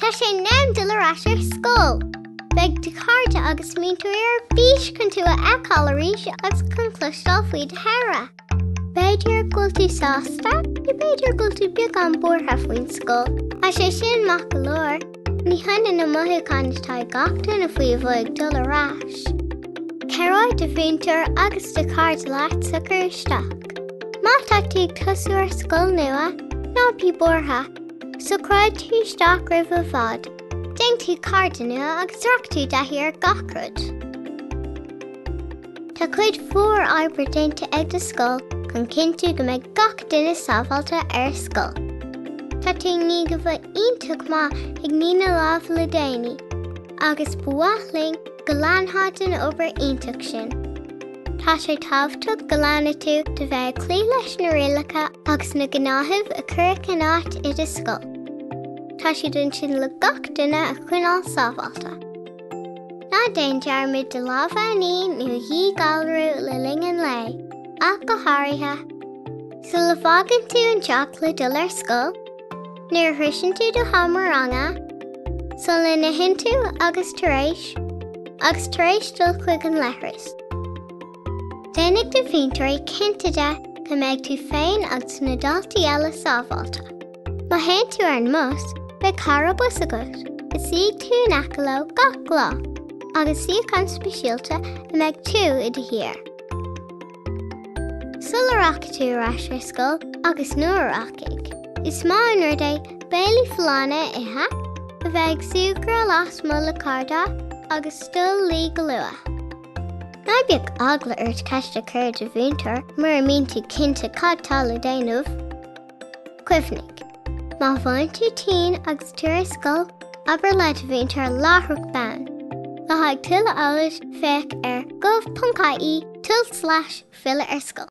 Tá sé in am dul ar ais ar scoil. Beidh do chairde agus múinteoirí ar bís chun tú a fheiceáil arís agus chun cloisteáil faoi do shaoire. B'fhéidir go bhfuil tú sásta, nó b'fhéidir go bhfuil tú beagán buartha faoin scoil, tá sé sin maith go leor. Ní hionann na mothúcháin atá ag gach duine faoi a bheith ag dul ar ais. Cabhróidh do mhúinteoir agus do chairde leat socrú isteach. Má tá tú ag tosú ar scoil nua, ná bí buartha, socróidh tú isteach roimh i bhfad, déanfaidh tú cairde nua agus rachaidh tú i dtaithí ar gach rud. Tá cuid mhór oibre déanta ag do scoil chun cinntiú go mbeidh gach duine sábháilte ar scoil. Tá tú i ndiaidh a bheith iontach maith ag ní na lámh le déanaí agus ba mhaith linn go leanfá den obair iontach sin. Tá sé tábhachtach go leanfaidh tú de bheith ag cloí leis na rialacha agus na gnáthaimh a cuireadh in áit i do scoil. Tá siad ansin le gach duine a choinneáil sábháilte. Ná déan dearmad do lámha a ní nó a dhíghalrú le linn an lae, ach go háirithe. Sula bhfágann tú an teach le dul ar scoil, nuair a shroicheann tú do sheomra ranga, sula n-itheann tú agus tar éis, agus tar éis dul chuig an leithreas. Déanfaidh do mhúinteoirí cinnte de go mbeidh tú féin agus na daltaí eile sábháilte. Má théann tú ar an mbus, beidh cara bus agat a suífidh tú in aice leo gach lá, agus suíochán speisialta a mbeidh tú i do shuí air. Sula rachaidh tú ar ais ar scoil, agus nuair a rachaidh, is maith an rud é béilí folláine a ithe, a bheith ag súgradh lasmuigh le cairde agus dul a luí go luath. Ná bíodh eagla ort ceist a chur ar do mhúinteoir mura mbíonn tú cinnte cad tá le déanamh. Cuimhnigh, Má bhíonn tú tinn agus tú ar scoil, abair le do mhúinteoir láithreach bonn. Le haghaidh tuilleadh eolais, féach ar gov.ie, tulslais, filleadh ar scoil.